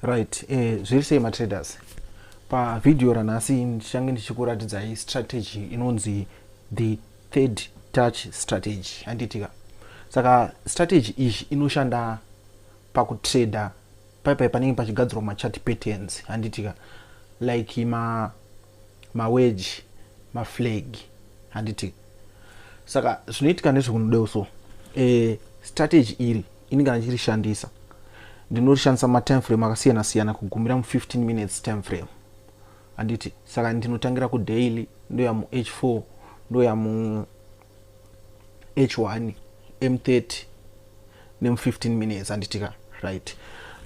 right eh, zviri sei matraders pavhidhiyo ranhasi ndichange ndichikuratidzai strategy inonzi the third touch strategy handiitika saka strategy iyi inoshanda pakutrader paipai panenge pachigadzirwa machati patterns handiitika like ma maweji maflag handiti saka zvinoitika nezvekunodeo so e, strategy iri ini kana ndichirishandisa ndinorishandisa matime frame akasiyana siyana kugumira mu15 minutes time frame handiti saka ndinotangira kudaily ndoya muh4 ndoya mu h1 m30 nemu15 minutes anditika right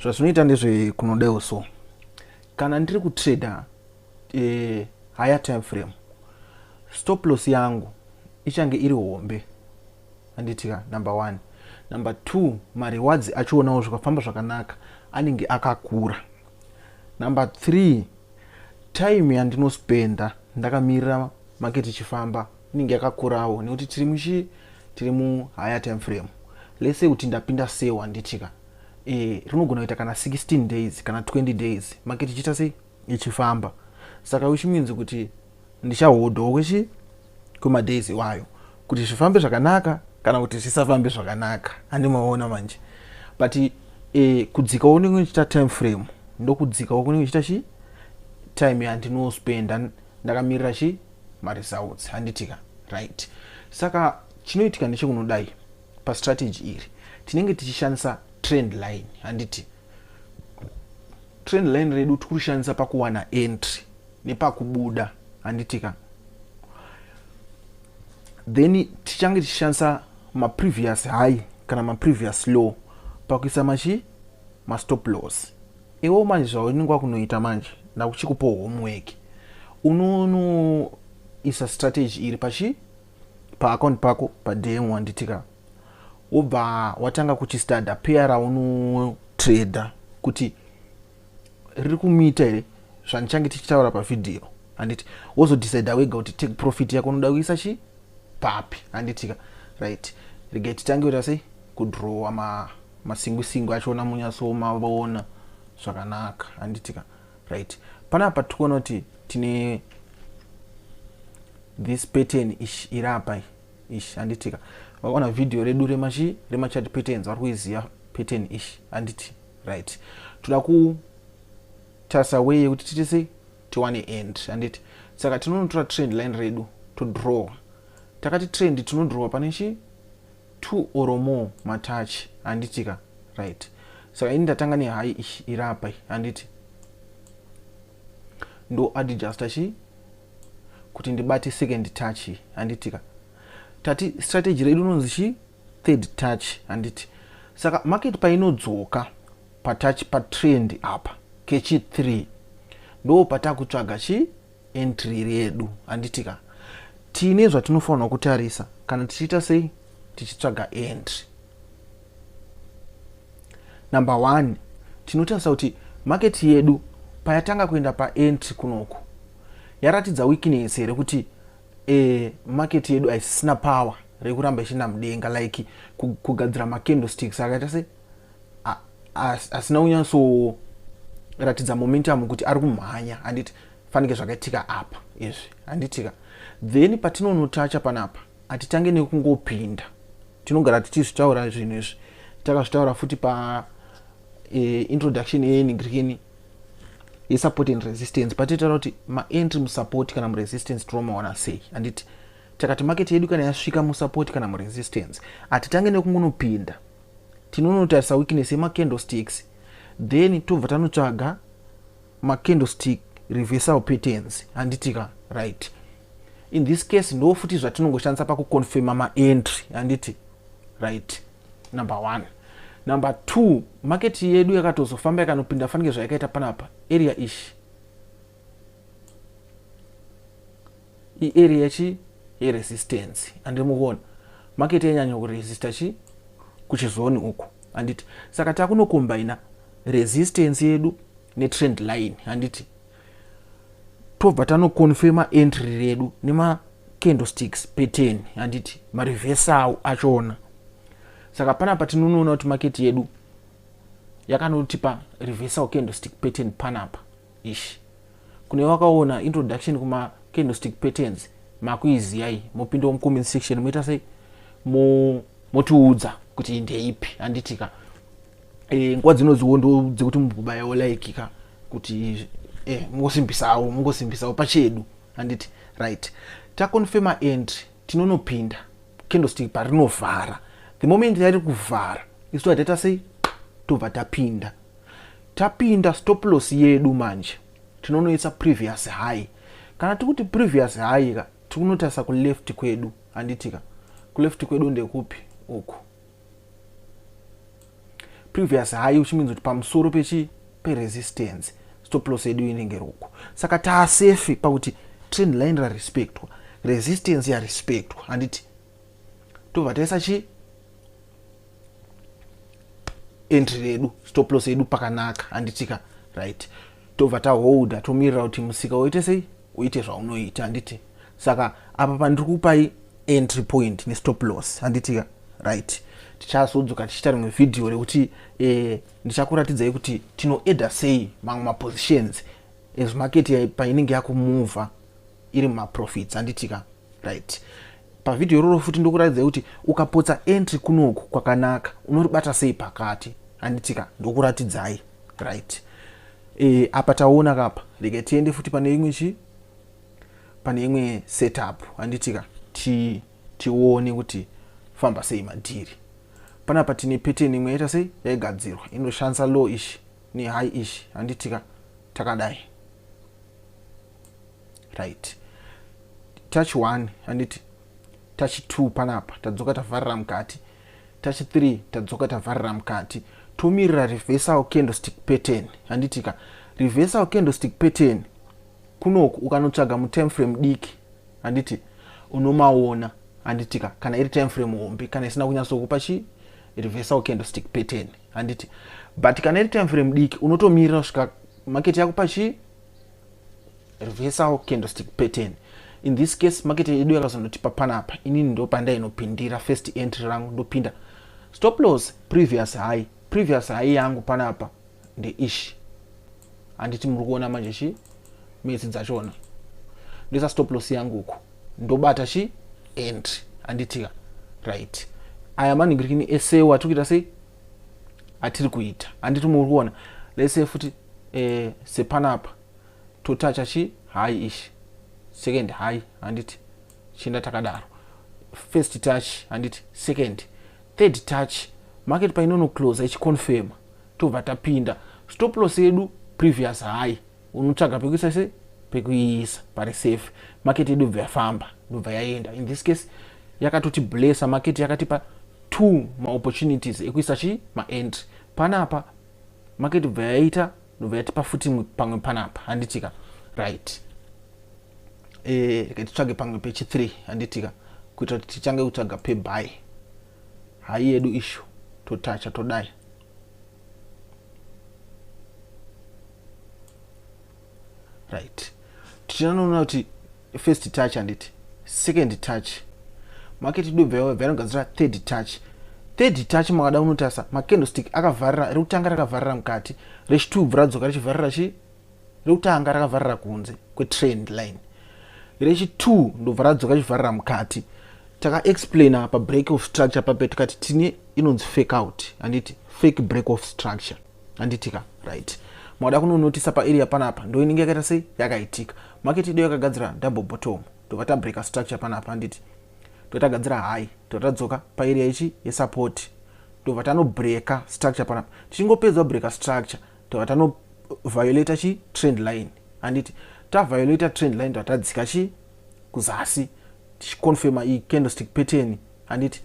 zvazvinoita ndezve kunodaiwo so kana ndiri kutrader eh, higher time frame stop loss yangu ichange iri hombe anditika number one number two marewards achionawo zvikafamba zvakanaka anenge akakura number three time yandinospenda ndakamirira market ichifamba inenge yakakurawo nekuti tiri muchi tiri mu higher time frame let's say kuti ndapinda seo handitika e, eh, rinogona kuita kana 16 days kana 20 days market ichiita sei ichifamba saka which means kuti ndichahodhawo kwechi kwemadays iwayo kuti zvifambe zvakanaka kana kuti zvisafambe zvakanaka handimaona manje but e, kudzikawo kunenge kuchiita time frame ndokudzikawo kunenge kuchiita chi time yandinospenda ndakamirira chi maresults handitika right saka chinoitika nechekunodai pastrategy iri tinenge tichishandisa trend line handiti trend line redu tiri kurishandisa pakuwana entry nepakubuda handitika then tichange tichishandisa maprevious high kana maprevious low pakuisa machi mastop loss Iwewo manje zvaunenge wakunoita manje ndakuchikupawo homework unonoisa strategy iri pachi paaccount pako padm wanditika wobva watanga kuchistada peya raunotrader kuti riri kumiita here zvandichange tichitaura pavhidhiyo handiti wozodecida wega kuti take profit yako unoda kuisa chi papi handitika right regai titange kuita sei kudrowa ma masingu singu achiona munyaso mavona zvakanaka handitika right panapa tikuona kuti tine this pattern ish iri apa ish handitika vakaona video redu remachi remachat patterns vari kuiziva pattern ish handiti right toda kutarisa way yekuti titise tiwane end handiti saka tinonotora trend line redu todrawa takati trend tinodrowa pane chii two or more matouch handiti ka right saka ini ndatanga nehai ishi iri apa handiti ndo adjusta chii kuti ndibate second touch handiti ka tati strategy redu unonzi chii third touch handiti saka market painodzoka patouch patrend apa kechi 3 ndo patakutsvaga chii entry iri yedu handiti ka tiine zvatinofanirwa kutarisa kana tichiita sei tichitsvaga entry number one tinotarisa kuti maketi yedu payatanga kuenda paentry kunoku yaratidza weakness here kuti e, maketi yedu haisisina power rekuramba ichienda mudenga like kugadzira macandlesticks akaita se asina kunyatsoratidza momentum kuti ari kumhanya handiti fanike zvakaitika apa izvi handitika then patinonotacha panapa hatitange nekungopinda tinogara tichizvitaura zvinhu izvi takazvitaura futi pa e, introduction yeenigrini yesupport and resistance patitaura kuti maentry musupport kana muresistance tinomaona sei handiti takati market yedu kana yasvika musupport kana muresistance hatitange nekungonopinda tinonotarisa weakness yemacandlesticks then tobva tanotsvaga macandlestick reversal patterns handitika right in this case ndo futi zvatinongoshandisa pakuconfirma maentry handiti right number one number two market yedu yakatozofamba yakanopinda fanike zvayakaita panapa area ishi I area chi ye resistance and mukona market yanyanya ku resista chi kuchizoni uku handiti saka takuno combina resistance yedu ne trend line handiti tobva tano confirma entry redu nema candlesticks pattern handiti ma reverse awo achona saka pana patinonoona kuti market yedu yakanotipa reversal candlestick pattern panapa Eish. Kune wakaona introduction kuma candlestick patterns makuiziyai mopindawo mucomment section moita sei motiudza kuti ndeipi handitika e, nguva dzinodziwo ndo dzekuti mubayawo like ka kuti e, mungosimbisawo mungosimbisawo pachedu handiti right taconfirma and tinonopinda candlestick parinovhara the moment yari kuvhara isu tataita sei tobva tapinda Tapinda stop loss yedu manje tinonoisa previous high. Kana tikuti previous high ka tikunotarisa ku left kwedu handitika. Ku left kwedu ndekupi uku. Previous high which means kuti pamusoro pechi pe resistance stop loss yedu inenge ruku. Saka ta safe pakuti trend line ra respectwa, resistance ya respectwa handiti. Tobva taisa chi entry redu stop loss yedu pakanaka handitika right tobva taholda tomirira kuti musika woite sei uite zvaunoita handiti saka apa pandiri kupai entry point nestop loss handitika right tichazodzoka tichiita rimwe vhidhiyo rekuti eh, ndichakuratidzai kuti tinoeda sei mamwe mapositions as market painenge yakumuvha iri mumaprofits handitika right pavhidhiyo iroro futi ndokuratidzai kuti ukapotsa entry kunoku kwakanaka unoribata sei pakati handitika ndokuratidzai right e, apa taona kapa rega tiende futi pane imwe chi pane imwe setup handitika ti tione kuti famba sei madhiri panapa tine pattern imwe yaita sei yaigadzirwa inoshandisa low ish nehigh ish handitika takadai right touch one handiti touch two panapa tadzoka tavharira mukati touch three tadzoka tavharira mukati tomirira reversal candlestick pattern handitika reversal candlestick pattern kunoku ukanotsvaga mutime frame diki handiti unomaona handitika kana iri time frame hombe kana isina kunyatsokupa chi reversal candlestick pattern handiti but kana iri time frame diki unotomirira kusvika market yakupa chii reversal candlestick pattern in this case market yedu yakazondotipa panapa inini ndopandainopindira first entry rangu ndopinda stop loss previous high previous high yangu panapa ndeishi handiti muri kuona manje chi metsi dzachona ndoisa stop loss yangu uku ndobata chi entry handitika right aya maningirikini ese watiri kuita sei atiri kuita handiti muri kuona lese futi eh, sepanapa totacha chi high ish second high handiti chienda takadaro first touch handiti second third touch market painono close ichiconfirma tobva tapinda stop loss yedu previous high unotsvaga pekuisa se pekuiisa pari safe market yedu bva yafamba ndobva yaenda in this case yakatoti blessa market yakatipa two maopportunities ekuisa chi maentry panapa market ibva yaita ndobva yatipa futi pamwe panapa handitika right eh, rega titsvage pamwe pechi 3 handitika kuitira kuti tichange kutsvaga pebuy hai yedu ishu totacha todai right tichinoona kuti first touch handiti second touch maketi dubva yavo vanogadzira third touch third touch makada unotarisa macandlestick akavharira rekutanga rakavharira mukati rechitubvu radzoka richivharira chi rekutanga rakavharira kunze kwetrend line rechitwo ndobva radzoka richivharira mukati takaexplaina pabreak of structure pape tikati tine inonzi fake out handiti fake break of structure handitika right makada kunonotisa paarea panapa ndoinenge yakaita sei yakaitika market ido yakagadzira double bottom tobva tabreaker structure panapa handiti totagadzira high tobva tadzoka paarea ichi yesupport tobva tanobreaker structure panapa tichingopedzwa breaker structure tobva tano violator chi trend line handiti taviolator trend line tobva tadzika chi kuzasi tichiconfirma icandlestick pattern handiti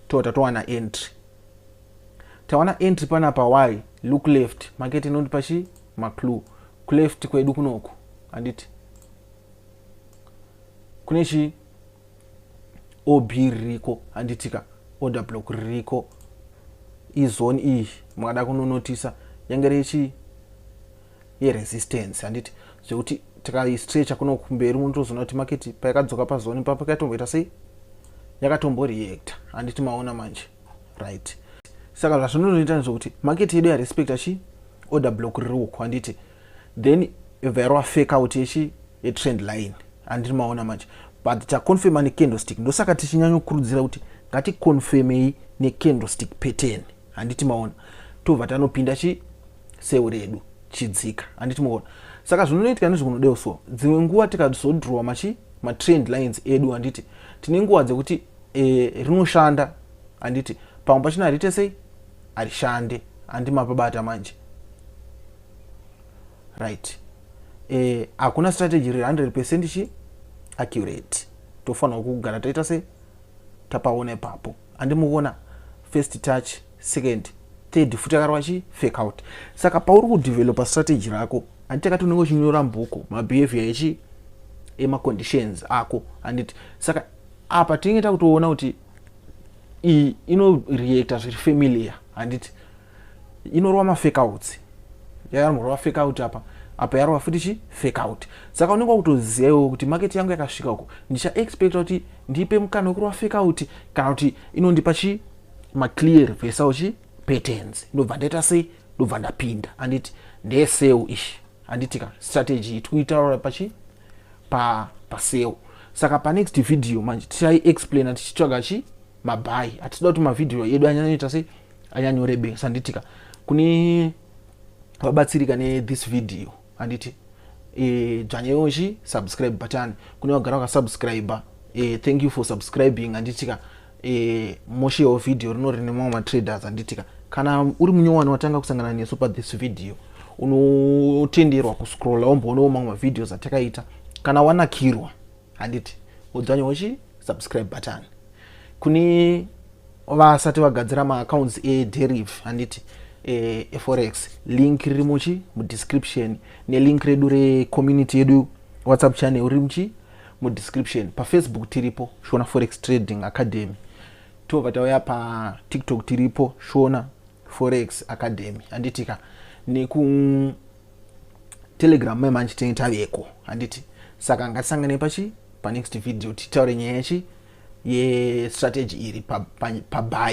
tobva tatowana entry tawana entry panapa y look left makete inondipa chi maclue kuleft kwedu kunoku handiti kune chi ob ririko handitika order block ririko izone iyi mungada kunonotisa yange rechi yeresistance handiti zvekuti tikaistrecha kuno kumberi munotozoona kuti maketi paikadzoka pazone papa kaitomboita sei yakatomboreacta handiti maona manje right saka zvazvinonoita nezvokuti market yedu yarespecta chi order block riri uku handiti then yobva yarova fake out yechi yetrend line handiri maona manje but taconfirma necandlestick ndosaka tichinyanyokurudzira kuti ngaticonfirmei necandlestick pattern handiti maona tobva tanopinda chi seu redu chidzika handiti maona saka zvinonoitika nezvikunodewo so dzimwe nguva tikazodrowa machi matrend lines edu handiti tine nguva dzekuti e, rinoshanda handiti pamwe pachina harite sei harishande handi mapabata manje right e, hakuna e, strategy riri 100 percent chi accurate tofanirwa kugara taita sei tapaona ipapo andimuona first touch second third futi akarwa chi fake out saka pauri kudevelopa strategy rako handiti akati unenge uchinyora mbuku mabehavior echi emaconditions ako handiti saka apa tinenge takutoona kuti iyi inoreacta zviri familiar handiti inorova mafekautsi yayanorova fekaut apa apa yarova futi chi fekaut saka unenge wakutozivawo kuti market yangu yakasvika uko ndichaexpecta kuti ndipe mukana wekurova fekaut kana kuti inondipa chi maclear vesawo chi patterns ndobva ndaita sei ndobva ndapinda handiti ndeseu ishi handiti ka strategy iti kuitaura pachi pa paseo saka panext video manje tichai explaina tichitsvaga chi mabhayi hatida kuti mavhidhiyo edu anyanoita sei anyanyorebesa handiti ka kune vabatsirika nethis video handiti e, dzvanyewo chi subscribe button kune vagara vakasubscribe e, thank you for subscribing handiti ka e, mushe of video rino rine mamwe matraders anditika kana uri munyowani watanga kusangana nesu pa this video unotenderwa kuscrolla womboonawo mamwe mavideos atakaita kana wanakirwa handiti wodzwanyawo chi subscribe button kune vasati vagadzira maaccounts ederif handiti e, eforex link riri muchi mudescription nelink redu recommunity yedu whatsapp channel riri muchi mudescription pafacebook tiripo shona forex trading academy tobva tauya patiktok tiripo shona forex academy handitika nekutelegram mai manje tinenge taveko handiti saka ngatisanganei pachi panext video titaure nyaya yachi yestrategy iri pabai pa, pa